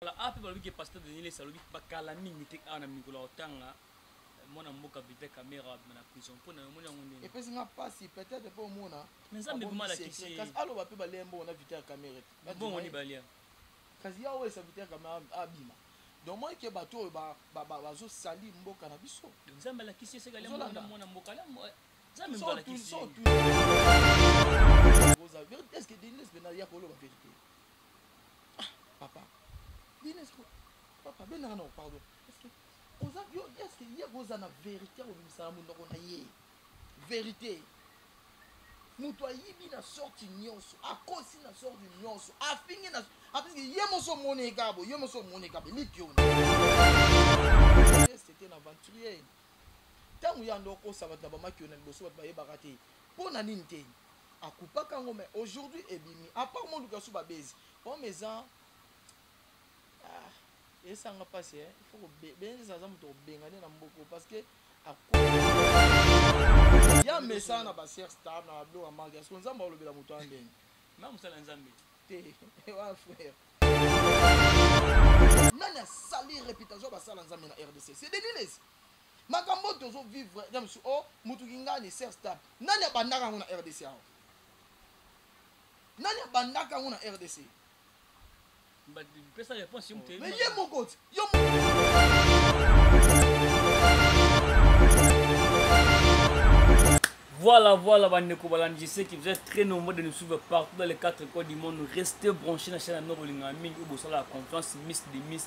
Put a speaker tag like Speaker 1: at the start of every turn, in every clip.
Speaker 1: Voilà, ape balobi ke pasteur Denis Lesa alobi bakala mingi te awa na mikolo akotanga eh, mwana mboka Vital Kamerhe abima na prison mpo na yo omoni yango ndenge epesi nga mpasi
Speaker 2: peut-être mpo omona Mais Nzambe abombi vraiment
Speaker 1: alakisi secret. ye. kasi aloba mpe balia mbongo
Speaker 2: na vital kamere te Ba bongo dima ni ye.
Speaker 1: balia kasi ya oyo
Speaker 2: esa vital kamere abima donc moi ke bato oyo ba- ba- ba- bazosali mboka na biso Donc, Nzambe alakisi ye
Speaker 1: seka alia Ozolanda. mwana mwana mboka alia
Speaker 2: mwa- Nzambe mpe alakisi ye. est ce que denis pena ya koloba verité papa bino eske papa bendaka na pardon eske oza yo eske ye koza na verité ya kobimisaka monoko na ye verité moto ayibi na sorti nyonso akosi na sorti nyonso afingi na apesike ye moso omoni ekabo ye moso omoni ekabo eliki yo c'était na aventurier ntango ya ndo okosa bato na bamaki yo na liboso bato bayebaka te mpo na nini te A coupa ka ngo mais aujourd'hui ebimi. A part Moluka sous ba bezi. Homme eza ah esa nga pasi eh. Il faut ko be benza za moto benga ne na mboko parce que a coupa. Ya mesa na ba sœur star na blo amanga. Est-ce que nzamba olobela moto andeni? Na musala nzambe.
Speaker 1: Te.
Speaker 2: Wa frère. nani asali réputation basala nzambe na rdc c'est des lilesi makambo oyo tozo vivre na mosu o mutu kingani serge tab nani abandaka yango na rdc awa nani abandaka yango na rdc
Speaker 1: pesa réponse yo moto mais ye moko ti yo Voilà, voilà, Bandeko Balan, je sais que vous êtes très nombreux de nous suivre partout dans les quatre coins du monde. Restez branchés dans la chaîne Nord Olingaming, où vous avez la confiance, Miss des Miss,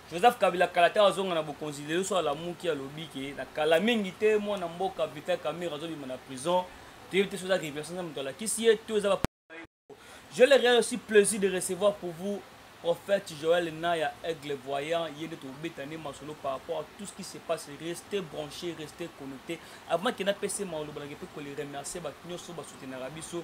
Speaker 1: joseph kabila kala te azonga na bokonzi lelo so alamuki alobi ke na kala mingi te mwana mboka vital camere azobima na prison toyebi te so eza révélation na moto alakisi ye to eza je le réel aussi plaisir de recevoir pour vous prophète joel naya aigle voyant ye nde tobeta nde masolo par rapport à tout ce qui se passe reste branché reste connecté avant kenda pese maloba nake mpe kole remercier bato nyonso basoutenaka biso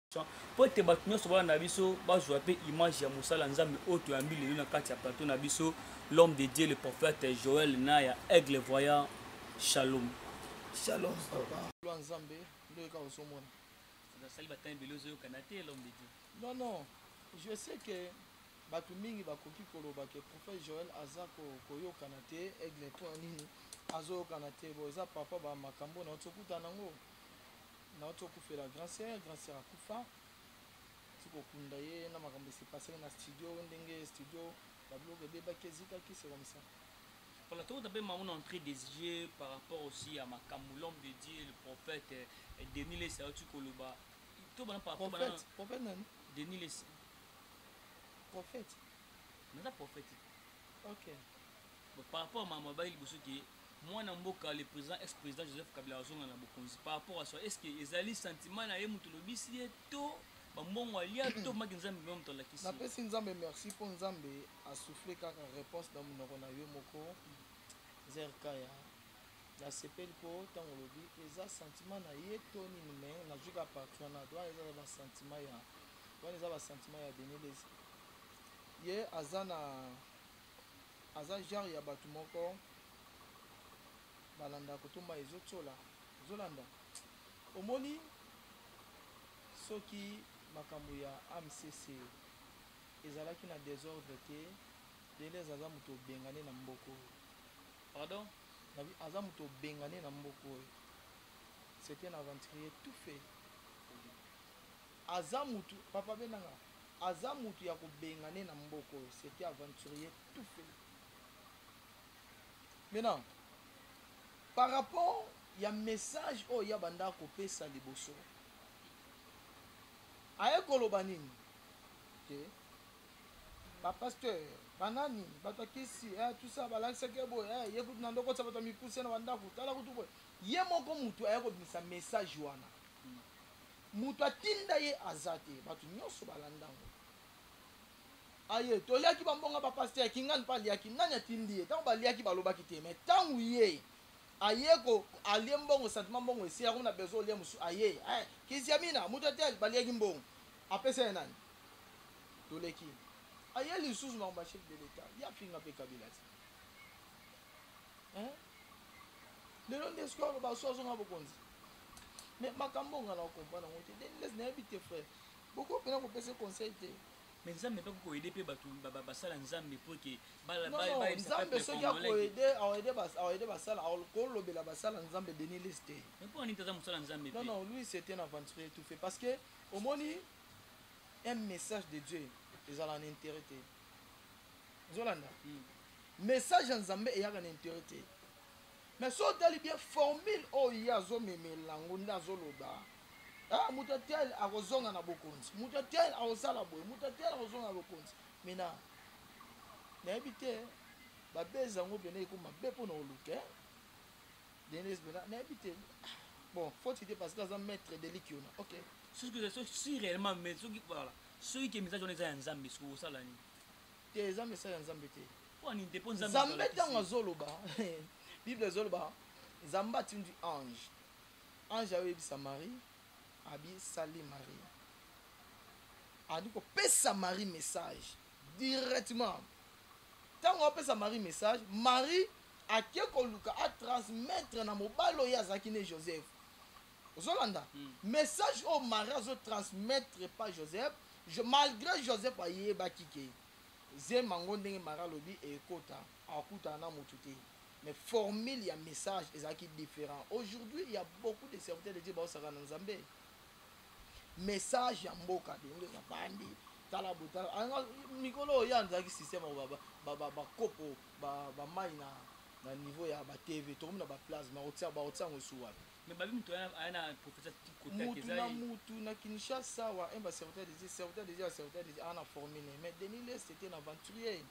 Speaker 1: mpo ete bato nyonso bana na biso bazwa mpe image ya mosala nzambe oyo toyambi lelo na kati ya plateau na biso l'homme de dieu le prophète joel na ya aigle voyant shalom shalom
Speaker 2: papa nzambe nde oyeka ozomona nasali batani ebele ozoyokana te l'homme de dieu non non je sais que bato mingi bakoki koloba ke prophète joel aza koyokana ko te aigle mpo ya nini azoyokana te bo eza papa bamakambo na oyo tokutana yango Nauti kokufela grand sœur, grand sœur akufa. Nauti kokunda ye na makambo esi pasaki na studio ndenge studio ba biloko ebebaki ezikaki c'est comme ça. Voilà, tokota
Speaker 1: mpe mango na entrée des yeux par rapport aussi ya makambo l'homme de Dieu le prophète eh, Denis Lessi auti koloba to bana par rapport bana Prophète, prophète nani?
Speaker 2: Denis Lessi Prophète.
Speaker 1: naza prophète Ok.
Speaker 2: Bon,
Speaker 1: par rapport à maman bayi liboso ke Mwana mboka le president ex president Joseph Kabila azonga na bokonzi par rapport à soi est-ce que ezali sentiment na ye mutu lobisi ye to ba mbongo alia to maki nzambe mwa mutu alakisi na pesi nzambe merci
Speaker 2: po nzambe a souffler kaka réponse na munoko na yo moko zerka ya na sepeli po tango lobi eza sentiment na ye to nini mais na juka partout wana doit eza ba sentiment ya wana eza ba sentiment ya Denis Lezi ye aza na aza genre ya batu moko balanda koto mai ezotiola ezolanda omoni soki makambo ya amcc ezalaki na desordre te delez aza moto obengane na mboko oyo
Speaker 1: pardon aza
Speaker 2: moto obengane na mboko oyo c'est un aventurier tout fait Aza mutu papa benanga aza mutu ya ko bengane na mboka oyo c'etait aventurier tout fait maintenant par rapport ya message oyo ya banda ko pesa liboso aye koloba nini te okay. ba pasteur banani bato ya kisi eh, tout ça balakisaki ye boye eh, ye kutu na ndokotisa bato ya mikuse na bandako tala kutu boye ye moko motu aya kobimisa message wana Moto atinda ye aza te, batu nionso balandango aye, toliaki ba mbongo ya ba pasteur, kingani pe aliaki, nani atindi ye? Tango baliaki balobaki te, mais tango ye aye ko alie mbongo sentiment mbongo esili akomi na besoin olia mosusu aye eh kiziamina moto ya tel baliaki mbongo apesa ya nani? Toleki aye lisusu makambo ya chef de l'etat ye afinga pe kabila te. hein lelo nde soki aloba so azonga bokonzi mais makambo nga na comprendre yango te denles nayebi te frère boko mpena kopesa conseil te me nzambe mpe
Speaker 1: kokoede mpe bato basala nzambe mpo eke nzambe
Speaker 2: soki akoede akoede basala kolobela basala nzambe denis lis te mpo nini taza mosala
Speaker 1: nzambe non non lui c'est un
Speaker 2: aventurier tout fait parce que omoni un message de dieu ezala na intérêt te ozolanda hmm. message ya nzambe eyaka na intere te mais so otali bien formule oyo ye azomemela yango nde azoloba ah, moto ya tel akozonga na bokonzi moto ya tel akosala boye moto ya tel akozonga na bokonzi mina nayebi te babezi yango mpena ekoma be mpo na oluka eh? denise mpena nayebi te bon faut te parce que aza maître de likiona ok soki
Speaker 1: réellement mais soki voilà soki ke message wana eza ya nzambe soki osala nini te eza
Speaker 2: message ya nzambe te nzambe
Speaker 1: ntango azoloba
Speaker 2: bible ezoloba nzambe atindi ange ange ayoyebisa marie abi sali marie andi kopesa marie message directement ntango apesa marie message marie ake koluka atransmettre na mobali oyo azalaki ne joseph ozolanda message oyo marie azo transmettre pa joseph Je, malgré joseph ayebaki ke zema ngo ndenge marie alobi ekota akutana na mutu te mais formule ya message ezalaki different aujourd'hui ya beaucoup de serviteurs de dieu baosaka na nzambe message ya mboka denge ya bandi tala botala mikolo oyo ya nzalaki système bakopo bamai na na niveau ya batv tokomi na baplace makotia bakotia yango esu wapi Mais babi mutu aya
Speaker 1: na professeur kote mutu na mutu
Speaker 2: na Kinshasa wa un ba serviteur des dieux serviteur des dieux serviteur des dieux ana formé ne mais Denis Lest était un aventurier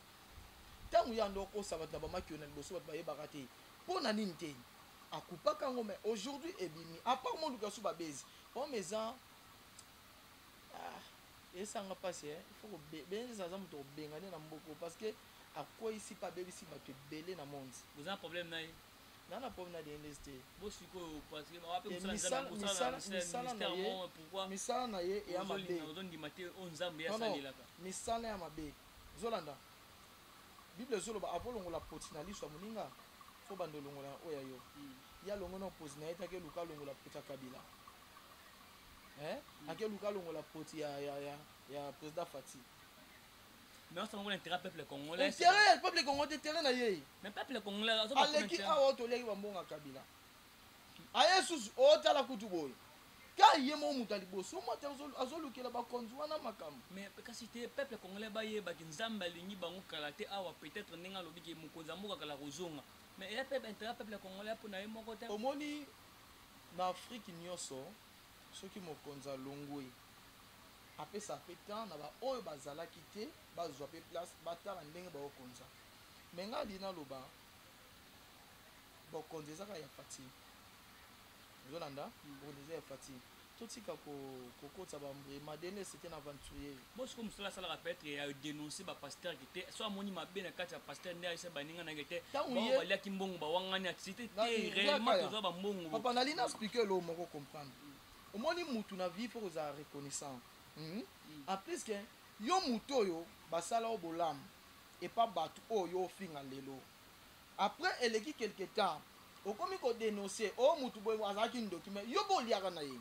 Speaker 2: ntango ya ndo okosa bato na bamakio na liboso bato bayebaka te mpo na nini te akupaka yango mais aujourd'hui ebimi apart moluka su babezi homme eza ah, esanga mpasi eh. il faut benza aza moto kobengane na mboko parce que akweyisi mpe abebisi bato ebele na monde boza na problème na ye
Speaker 1: na na problème na
Speaker 2: Dendes te bo sikoyo parce que
Speaker 1: wapi eh, musala nzambe musala musala na ye
Speaker 2: pourquoi misala na ye ya mabe ozo ndima te o nzambe ya salelaka misala ya mabe zolanda bible ezoloba avant longola poti na liso ya moninga fo banda olongola ya oyo ya yo hmm. ya longo na opozi na ye te akeluka longola poti ya kabila eh? Hmm. akeluka longola poti ya, ya, ya, ya président fati
Speaker 1: mais osala ngo na intérêt peuple congolais intérêt ya peuple congolais
Speaker 2: intérêt na ye mais peuple congolais azo
Speaker 1: aleki awa oto
Speaker 2: leki ba mbonga kabila aye susu otala kutu boye ka ye mo moto ya liboso moto azolukela bakonzi wana makambo mais kasi te
Speaker 1: peuple congolais bayebaki nzambe alingi bango kala te awa peut-être ndenge alobi ke mokonzi ya mboka kala kozonga mais eya peuple intérêt peuple congolais mpo na ye moko te omoni
Speaker 2: na afrique nyonso soki mokonzi alongwe apesa pe temps na ba oyo bazalaki te bazua pe place batala ndenge bako konza mais nga alingi naloba bokonzi eza kaka ya Fathi ozolanda bokonzi eza ya Fathi totika ko kokotisa ba mbre madele c'est un aventurier bon siko musala asalaka
Speaker 1: peut être ya denoncer ba pasteur ki te so amoni mabe na kati ya pasteur nde ayesa baninga na ke te bon baliaki mbongo bawangani activité te réellement tozwa ba mbongo papa nalina expliquer
Speaker 2: lo moko comprendre Omoni mutu na vie faut kozala reconnaissant hum en plus que yo mutu oyo basala yo bolamu epa batu oyo yo ofinga lelo après eleki quelque temps okomi ko denoncer oh mutu boye azalaki ndoki mais yo pe oliaka na ye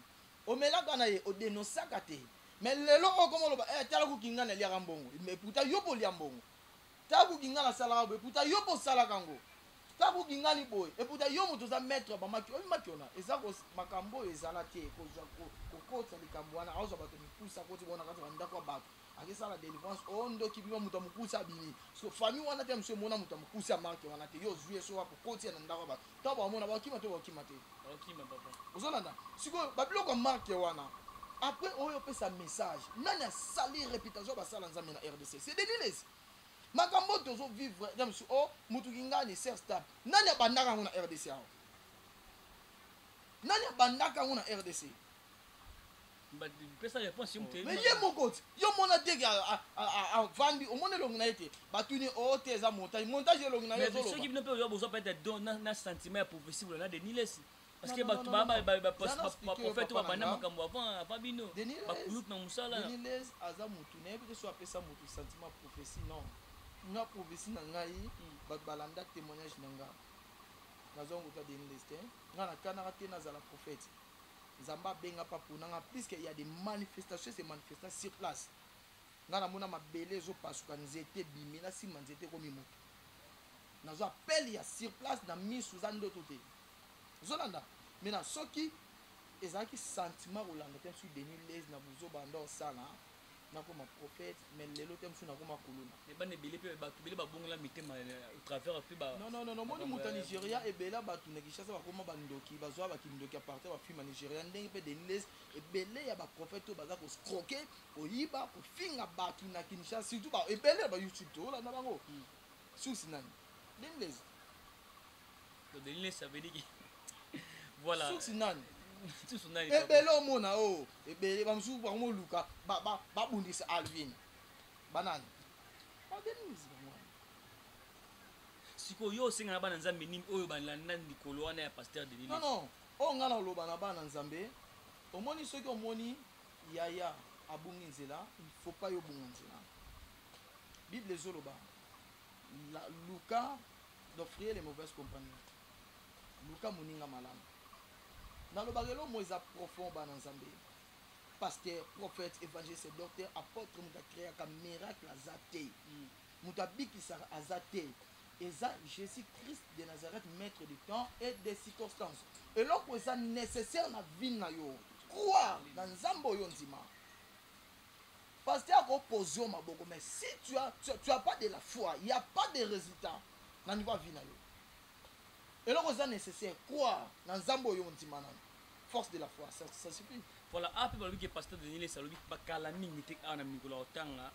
Speaker 2: omelaka na ye o denoncaka te mais lelo okomi oloba eh tala kutu ngai naliaka mbongo mais pourtant yo pe olia mbongo Tabu ginga na salaka boye puta yo pe osalaka yango tabu ginga ni boye eputa yo moto oza maître ya bamaki oyebi maki ona eza makambo oyo ezala te kokotisa likambo wana aozwa bato mikusa koti bona kati bandako ya bato akesala delivrance o oh, ndoki bima moto ya mokuse abimi so famille wana te mosu emona moto ya mokuse ya marke wana te yo ozwi ye so akokotia na ndako ya bato to bamona bakima to bakima te bakima papa ozolanda sikoyo babiloko ya marke wana après oyo opesa message nani asali réputation basala nzambe na rdc c'est denilesi makambo oyo tozovivre ya mosu o oh, motu kingani ser stab nani abandaka yango na rdc awa nani abandaka yango na rdc
Speaker 1: pesa réponse yo moteli mais ye moko yo
Speaker 2: mona te ke avandi omoni elongi na ye te batuni o oh, te eza montage montage elongi na yesoki bino mpe oyo bozwa peut être
Speaker 1: don na sentiment ya prophétie bolona denis lesi parce que bato baprofete oyo babanda makambo avant avant bino bakulutu na mosala denis aza motu
Speaker 2: nayebi te so apesa motu sentiment ya prophétie non nga prophétie na ngai hmm. bato balanda témoignage na nga nazwa nguta denis lesi te nga nakanaka te nazala prophète nzambe abenga mpe apona nga puisque ya de manifestation se manifesta sur place nga namona mabele ezopasuka nzete ebimi na simba nzete ekomi moto nazwa appel ya sur place na misu eza ndoto te ozolanda mai na soki ezalaki sentiment kolanda te msu denis les na buzoba nde osala nakoma prophète mais lelo te mosusu nakoma kuluna mais bana ebele mpe bato
Speaker 1: ebele babongola mitema au travers mpe ba non non non omoni moto ya
Speaker 2: nigeria ebele bato na kinshasa bakoma bandoki bazwa bakindoki apartir bafilme ya nigeria ndenge mpe deniles ebele ya baprophète oyo baza koscroke koyiba kofinga bato na kinshasa surtout ebele ya bayoutube toolanda bango hmm. susi nani deniles
Speaker 1: susi nani
Speaker 2: ebele omona o oh, ebele bamosusu bakomoluka babundisa alvin banani babenisi bango wana sikoyo
Speaker 1: yo osenga na bana nzambe nini oyo balanda likolo wana ya paster de non non oyo ngai
Speaker 2: naloba na bana nzambe omoni soki omoni yaya abungi nzela il faut pas yo obunga nzela bible ezoloba luka d'offrir les mauvaises compagnies. Luka moninga malamu. Nalobaka eloko moko eza profond bana Nzambe. Pasteur, prophète, évangéliste, docteur, apôtre moto akreaka miracle aza te. Mm. Moto abikisaka aza te. Eza Jésus Christ de Nazareth, maître du temps et des circonstances. Eloko eza nécessaire na vie na yo. Croire na Nzambe oyo ndima. Pasteur ako poser yo maboko mais si tu as, tu, tu as pas de la foi, il y a pas de resultat na niveau ya vie na yo. Eloko eza necessaire, croire na Nzambe oyo ondima nanu. Force de la foi, ça, ça suffit. Voilà, ape balobi ke
Speaker 1: Pasteur Denis Lesa alobi bakala mingi te awa na mikolo akotanga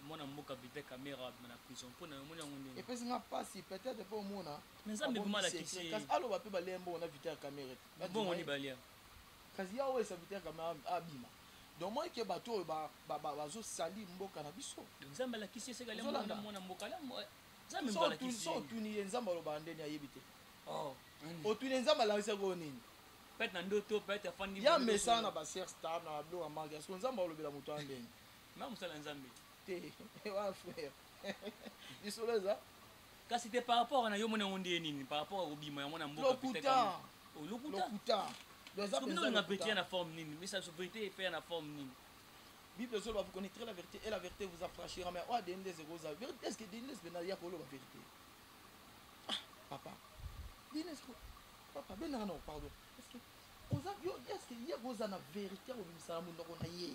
Speaker 1: mwana mboka Vital Kamerhe abima na prison mpo na yo omoni yango ndenge epesi nga mpasi
Speaker 2: peut-être mpo omona Mais Nzambe abombi vraiment alakisi
Speaker 1: secret. ye. kasi aloba mpe balembo
Speaker 2: na Vital Kamerhe te. Mbongo nini balia?
Speaker 1: Kasi ya oyo
Speaker 2: serviteur kamere abima donc moi ke bato oyo bazo salir mboka na biso nzambe alakisi eseka
Speaker 1: le mwana mwana mboka la nzambe mboka alakisi so otuni
Speaker 2: ye nzambe alobaka ndeni ayebi te oh otuni nzambe alakisa ko nini peut na ndoto
Speaker 1: peut afandi ya mesa na ba sœur
Speaker 2: star na blo wa manga so nzambe alobela moto ya ndeni ma musala nzambe
Speaker 1: te
Speaker 2: wa frère lisolo eza kasi te par
Speaker 1: rapport na yo mona yango ndeye nini par rapport ya kobima yango na mboka lokuta
Speaker 2: olinga
Speaker 1: verité ya na forme nini misa biso verité efe ya na forme nini bible ezoloba
Speaker 2: vous connaîtrez la vérité et la vérité vous affranchira mais oyo adende ekozala est ce que dende ezobenda ya koloba vérité ah, papa dende papa bendaka nao pardon est ce que oza yo est ce que ye koza na vérité ya kobimisana monoko na ye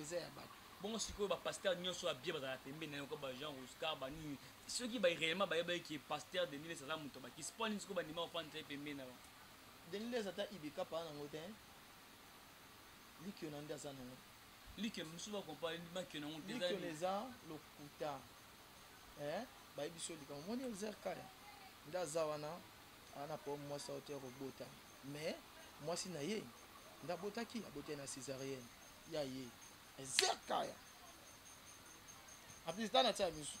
Speaker 2: eza ya bato bongo sikoyo bapaster
Speaker 1: nyonso ya bie bazala pembe na yoko bajean roscar banini soki baréellement bayebaki ke paster deniles aza moto bakisi mpo nini sikoyo bandima kofandisa ye pembe na bango deniles ata
Speaker 2: ibeka paa nango te likiona nde aza nango likiona mosusu
Speaker 1: bakompare makiona yango likiona eza
Speaker 2: lokuta eh, bayebi so likambo moni elzer kaya nde aza wana ana po mwasi auteur obotami Mais mwasi na ye nde abotaki, abotaki na cesarienne ya ye. Ezekaya apesi tana tia misu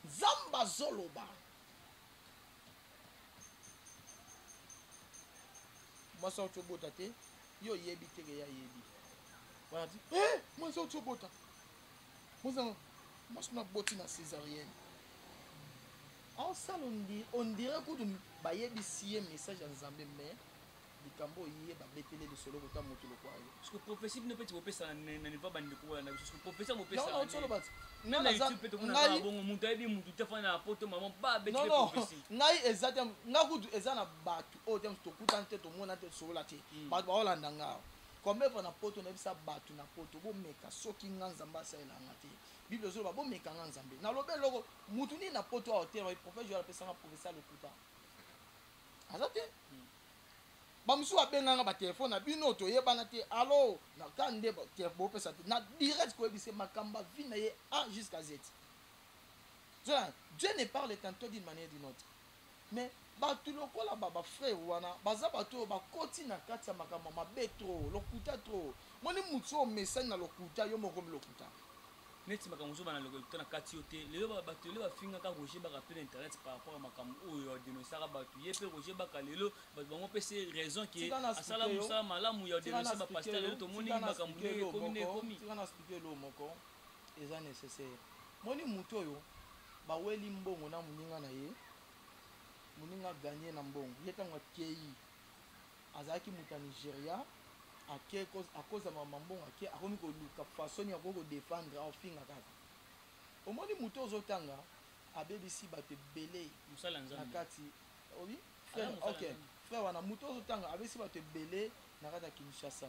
Speaker 2: nzambe azoloba mwasi auti obota te yo oyebi teke ye ayebi wana ti e eh, mwasi auti obota mwasi na boti na césarienne Asala on dirait kutu bayebisi ye message ya Nzambe mais likambo oyo ye babetele lisolo kota mutu lokwa yo parce que prophetie bino
Speaker 1: peti bopesa na niveau ba ndeko bola na biso parce que professeur bopesa non non tolo bati
Speaker 2: même na youtube peti
Speaker 1: kuna ba bongo mutu ayebi mutu te fana na poto maman ba betele prophetie non non ngai eza te
Speaker 2: ngai kutu eza na batu oyo te to kuta te to mona te sola te hmm. batu ba olanda ngai combien fois na poto na bisa batu na poto bomeka soki ngai nzambe asalela ngai te Bible ezo loba bo meka nga nzambe na loba eloko mutu nini na poto awa te loba prophète Joël apesa nga professeur lokuta aza te ba musu ba benga nga ba téléphone na bino to yebana te allo na ka nde ba te bo pesa te na direct ko yebise makamba vie na ye a jusqu'à z Dieu ne parle qu'un taux d'une manière d'une autre Mais batu lokola ba ba frere wana baza batu oyo ba koti na kati ya makambo ya mabe trop lokuta trop moni mutu oyo omesani na lokuta yo moko okomi lokuta. Neti makambo
Speaker 1: ozo banda lokuta na kati yo te lelo ba batu lelo ba fingaka Roger baka pe na internet par rapport ya makambo oyo a denoncaka batu ye pe Roger baka lelo batu bango pesi ye raison que asala musala malamu ya denoncer ba pasteur lelo tomoni makambo ndenge ekomi ndenge ekomi. Tika na explique yo eloko
Speaker 2: moko. eza necessaire moni mutu oyo ba weli mbongo na muninga na ye muninga gagne na mbongo ye tango akeyi azalaki mutu ya Nigeria ake akoza mama mbongo ake akomi koluka façon ya ko defendre au finga kaka omoni mutu ozo tanga abebisi batu ebele na kati oui frère ok frère wana mutu ozo tanga abebisi batu ebele na kati ya Kinshasa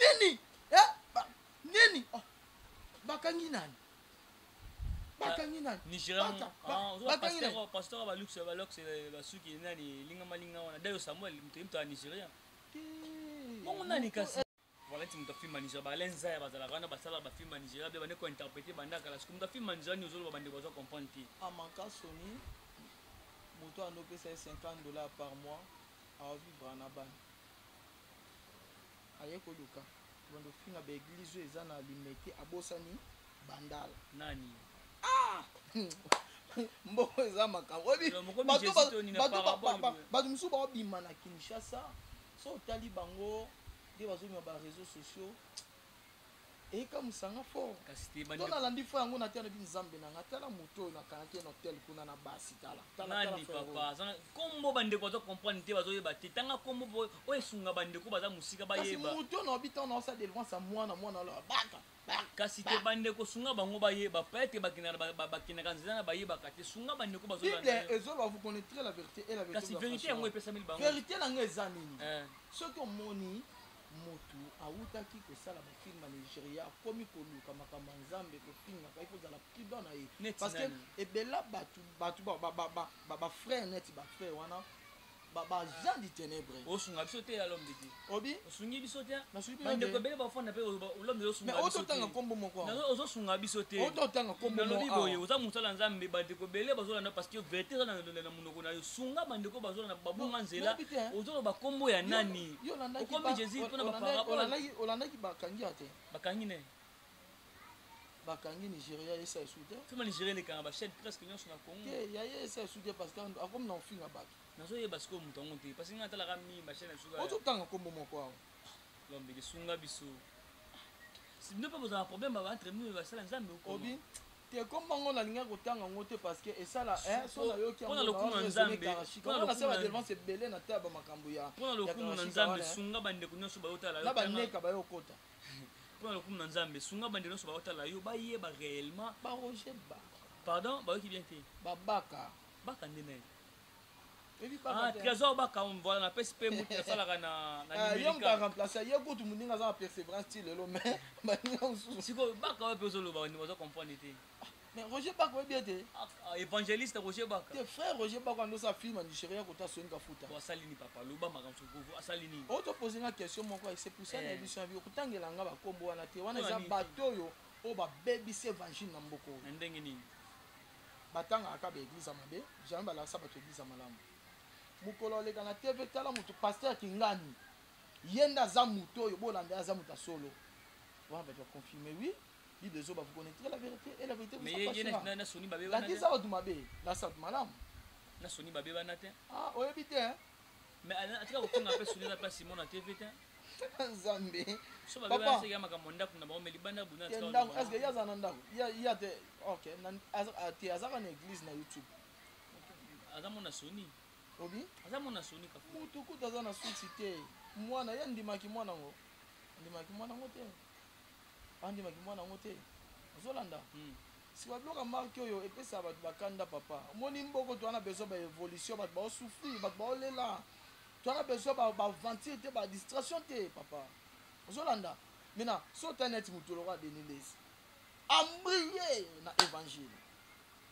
Speaker 2: nini eh, nini oh, bakangi nani bakangi nani
Speaker 1: bakangi nani pasteur ba luxe ba luxe ba suki nani linga malinga wana dayo samuel mtu mtu nigeria bongo nani kasi voilà ti mtu afilma nigeria ba lenza ya bazala wana basala ba filma nigeria be bande ko interpréter banda kala siku mtu afilma nigeria ni ozolo bande bazo comprendre ti amaka soni
Speaker 2: moto anopesa ye 50 dollars par mois aovivra na bana Aye koluka kobanda kofinga ba eglise oyo eza na limete abosani bandala nani ah! mbongo eza makambo bato mosusu baobima na kinshasa so otali bango nde bazobima ba réseau sociaux eka musanga fort to nalandi fo yango na te alobi nzambe nanga tala moto oyo nakangaki na hotel kuna na basi talanani papa
Speaker 1: kombo bandeko baza comprendre te bazoyeba te tanga kombo po oyo esunga bandeko baza mosika bayeba moto na obi ntango naosa
Speaker 2: delivance ya mwana mwana aloba baka kasi te
Speaker 1: bandeko sunga bango bayeba peut-être bakendaka nzela na bayebaka te sunga bandeko
Speaker 2: bazolobavérité yango epesameli
Speaker 1: bango vérité na ngai eza nini
Speaker 2: eh. soki omoni Mutu awutaki kosala ba films na Nigeria akomi koluka makambo ya Nzambe kofingaka il faut ozala prudent na ye parce que ebela batu batu ba frère neti ba frère wana ba ba gens du ténèbre osunga biso te ya l'homme
Speaker 1: de Dieu obi osungi biso te ba ndeko ebele ba
Speaker 2: fanda pe
Speaker 1: l'homme de Dieu osunga biso te oto tanga kombo moko
Speaker 2: na ozo sunga biso te
Speaker 1: oto tanga kombo moko na
Speaker 2: boye oza musala
Speaker 1: Nzambe ba ndeko ebele bazo landa parce que verité eza na munoko na yo sunga ba ndeko bazo landa ba bunga nzela ozo loba kombo ya nani Yo olandaki Okomi ba- Jésus mpo na ba olandaki- parabole. olandaki- olandaki bakangi ya
Speaker 2: te bakangi ne bakangi nigeria esa esu te fima nigeria elekanga bachaine
Speaker 1: presque nyonso na congo te ya ye esa esu te
Speaker 2: parce que akomi na ofinga bato nazoyeba sikoyo moto
Speaker 1: yango te parce que ngai natalaka mingi bachaine ya suka ozotanga nkombo moko awa
Speaker 2: lombe lisunga
Speaker 1: biso bino mpe bozala problème ba entre nous basala nzambe okobi te
Speaker 2: komba ngo nalinga kotanga ngo te parce que esala eh, so nayoki yango lokumu na nzambe
Speaker 1: nasala delvance
Speaker 2: ebele na taba makambo ya mpo na lokumu na nzambe
Speaker 1: eh. sunga bandeko nyonso bayotala na baneka bayokota
Speaker 2: mpo na lokumu
Speaker 1: na nzambe sunga bandeko nyonso bayotala yo bayeba réellement baroger ba
Speaker 2: pardon bayoki
Speaker 1: bien te babaka
Speaker 2: baka nde nani
Speaker 1: Ah, trésor baka voilà na pesi pe mutu asalaka na na ah, yo mutu remplacer
Speaker 2: ye kutu muninga aza na perseverance ti lelo mais baninga mosusu sikoyo baka oyo mpe ozoloba
Speaker 1: bandeko baza comprendre te ah, mais roger baka
Speaker 2: oyebi ete évangéliste
Speaker 1: roger baka te frère roger baka ando
Speaker 2: sa film nigeria kota soyini kafuta asali nini papa loba
Speaker 1: makambo sokovu asali nini oyo topose nga question
Speaker 2: moko ese pusa na emission ya bio kotangela nga bakombo wana te wana eza bato oyo
Speaker 1: oyo
Speaker 2: babebisi évangile
Speaker 1: na
Speaker 2: mboka oyo na ndenge nini batangaka kaka ba eglise ya mabe jamais balakisa bato eglise ya malamu mokolo oleka na tv tala moto pasteur kingani ye nde aza moto oyo bolanda aza moto ya solo wana bato baconfirme oui bible ezoba vous connaîtrez la vérité et la vérité lakisa bato mabe lakisa bato malamu na soni babe
Speaker 1: wana te ah, oyebi te
Speaker 2: Mais Alain atika
Speaker 1: kofinga mpe Sonia na mpe Simona te vite. Nzambe.
Speaker 2: So ba beba
Speaker 1: se yama kama ndaku na bango mais libanda buna tika. Ndaku est-ce que yaza na
Speaker 2: ndaku? Ya ya te. OK. Na te azaka na église na YouTube.
Speaker 1: Aza mona Sony. Obi? Aza
Speaker 2: mona Sony
Speaker 1: kafu. Mutu kuta aza na suite
Speaker 2: te. Mwana ya ndimaki mwana ngo. Ndimaki mwana ngo te. Andimaki mwana ngo te. Ozolanda? Hmm. Sikoyo biloko ya marque oyo epesaka bato ba kanda papa. Omoni mboko toza na besoin ba evolution, bato bao souffrir, bato bao lela. Toza na besoin ba ba aventure te, ba distraction te papa. Ozo landa? Maintenant, so ta net mutu lokola Denis Lessi. A briller na evangile.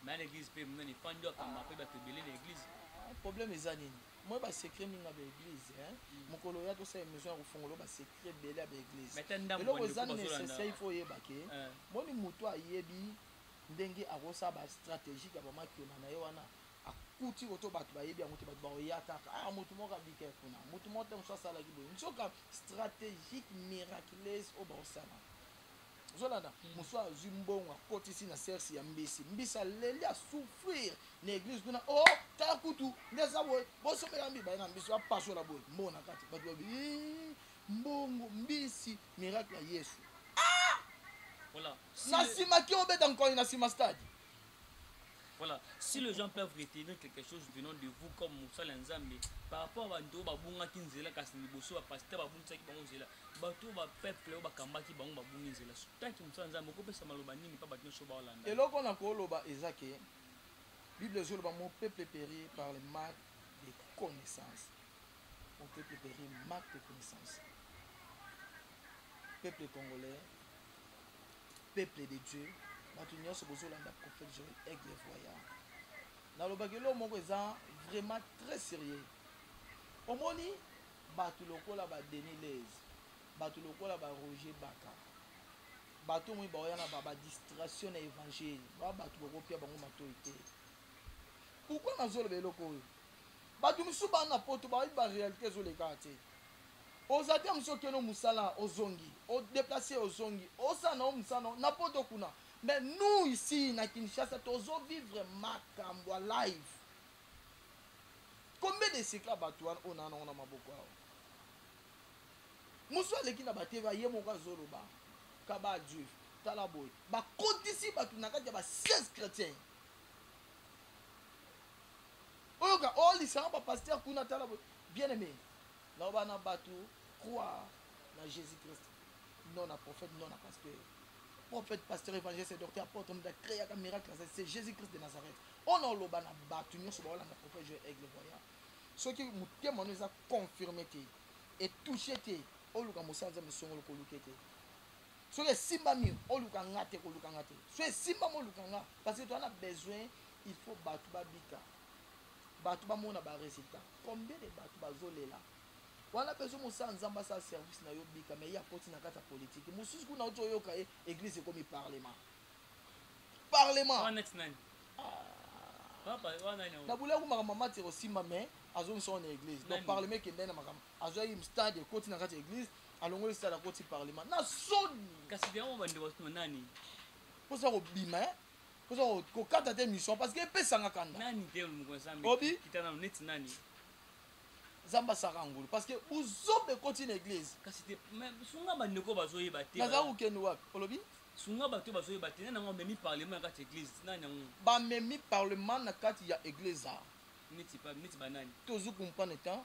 Speaker 2: Mais na
Speaker 1: église pe muna ni fandi akamba pe bato ebele na église. Ah, problème eza
Speaker 2: nini? Moi ba secret mingi na ba église, hein. Mm. Mokolo ya to sa émission ya kofongolo ba secret. ebele ya baeglise eloko eza necessaire ifo oyeba ke eh. moni moto ayebi ndenge akosala bastratégique ya bamakiona na ye wana akuti koto bato bayebi yango te bato bakoya kaka ah moto moko abika kuna moto moko te mosusu asalaki boye nzoka stratégique miraculeuse oyo bakosala ozolanda hmm. mosusu azwi mbongo akotisi na sersi ya mbisi mbisi aleli asouffrir na église kuna o oh, kaka kutu nde eza boye bosomela mbi baye na mbisi apasola boye mbongo na kati bato babi eh, mbongo mbisi miracle ya yesu ah!
Speaker 1: na nsima
Speaker 2: ki obeta nkoni na nsima stade
Speaker 1: Voilà, si les gens peuvent retenir quelque chose venant de vous comme Moussala Nzambe, par rapport à Bando, Babunga Kinzela, Kasni Bosso, Pasteur Babunga Kinzela, Bato, ba peuple, ba Kambaki, Bango Babunga Kinzela. Tant que Moussala Nzambe, Koko Pesa Maloba Nini, Papa Dino Soba Olanda. Et loko na Koloba,
Speaker 2: Ezake, Bible Zoloba, mon peuple péri par le manque de connaissances. Mon peuple péri manque de connaissances. Peuple congolais, peuple de dieu bato nyonso bozolanda prophète joel aigle voyant nalobaki eloo moko eza vraiment très sérieux omoni bato lokola ba denis lez bato lokola ba roger baka bato omoni baoya na ba distraction na évangile ba bato bokopia bango matoi te pourkui nazoloba eloko oyo bato mosusu bana na poto bayebi baréalité ezolekaka te Oza te musi okeno musala ozongi o deplacer ozongi osala na yo musala na yo na poto kuna mais nous ici na Kinshasa tozo vivre makambo ya live combien de secret ya batu wana oyo na nango na maboko awa musu aleki na bateva ye moko azoloba kaba juif tala boye bakotisi batu na kati ya ba 16 chrétiens oyoka o oh, lisanga ba pasteur kuna tala boye bien aimé Loba na batu croire na Jesus Christ non na prophète non na pasteur prophète pasteur évangéliste docteur apôtre mutu acreaka miracle aza c'est Jesus Christ de Nazareth ona oloba na batu nyonso baolanda prophète Joël Aigle voyant soki motema no eza confirme te etouche te oluka mosala nzambe songolo koluke te soki esimbami oluka nga te koluka nga te soki esimbami oluka nga parce que toza na besoin il faut bato babika batu bamona ba resultat combien de batu bazolela wana pe ozomosala nzambe asala service na yo bika mais ye akoti na kati ya politique mosusu kuna oti oyoka ye eglise ekomi parlement
Speaker 1: parlement na bolia kumaka mama tira
Speaker 2: osimba mais azongisa wana eglise donc parlement ekendai na makambo azwaki stade ekoti na kati ya eglise alongoli stade akoti parlement na soni kasi yango bande
Speaker 1: basima nani mposa
Speaker 2: kobima oza kokata te mission parce que epesanga kanda nani te moko nzambe
Speaker 1: obi kita nanu neti
Speaker 2: nani nzambe asaka ngulu parce que buzoba ekoti na église kasi te
Speaker 1: sunga bandeko bazoyeba te naza kokende wapi olobi
Speaker 2: sunga bato bazoyeba
Speaker 1: te nani yango amemi parlement na kati ya église nani yango bamemi
Speaker 2: parlement na kati ya église a neti
Speaker 1: banani tozukumpa na
Speaker 2: temps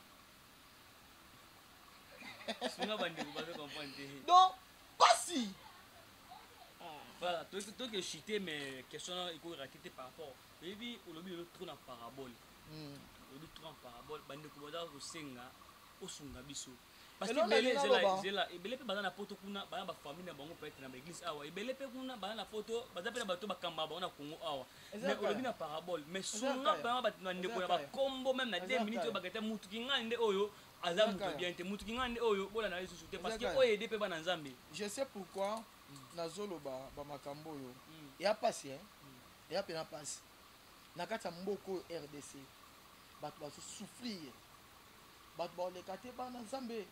Speaker 1: sunga bandeko bazo comprendre te donc pasi voilà toke chute mais question ekoki rate te par rapport oyebi olobi lelo trop na parabole hmm. olobi trop na parabole bandeko baza kosenga osunga biso parce que ebele ezela ezela ebele mpe baza na poto kuna baza bafamille na bango peut-être na baeglise awa ebele mpe kuna baza na poto baza mpe na bato bakamba bango na congo awa mais olobi na parabole mais sunga vraiment bato na ndeko ya bakombo meme na 2 minutes oyo bakete mutu kingani nde oyo aza moto bien te moto kingani nde oyo bolanda lisusu te parce que oyo ede mpe bana nzambe je sais pourquoi hmm.
Speaker 2: nazoloba bamakambo oyo hmm. ya mpasi eh? hmm. ya mpena mpasi na kati ya mboka oyo rdc bato bazosouffrir bato baoleka te bana nzambe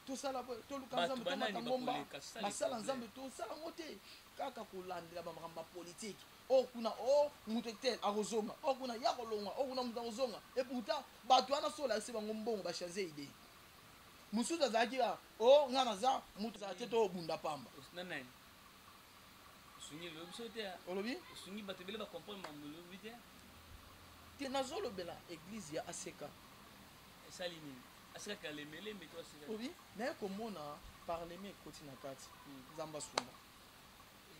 Speaker 2: tosala toluka nzambe tomata ngomba basala nzambe tosala yango te kaka kolandela bamakambo ya politike o oh, kuna o oh, moto etel akozonga o oh, kuna ya kolonga o kuna moto akozonga eputa bato wana so olakisi bango mbongo bachange idee mosusu azalaki kaka o ngai naza moto azala te tobunda pamba olobi te nazolobela eglize ya aseka esali nini asikaki na lembelembe to asikaki obi naye komona parlement ekoti na kati hmm. nzambe asunga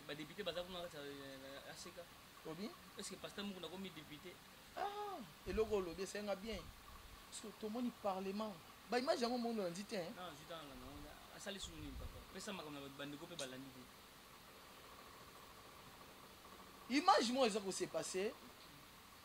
Speaker 2: badepute
Speaker 1: baza kuna kati ya aseka obi eske
Speaker 2: pasteur moko
Speaker 1: nakomi depute ah, eloko
Speaker 2: olobi esenga bien tomoni parlement baimage yango mondo olandi te
Speaker 1: asali sunu nini papa pesa makambo na bandeko mpe balandi te
Speaker 2: image moko eza kose passe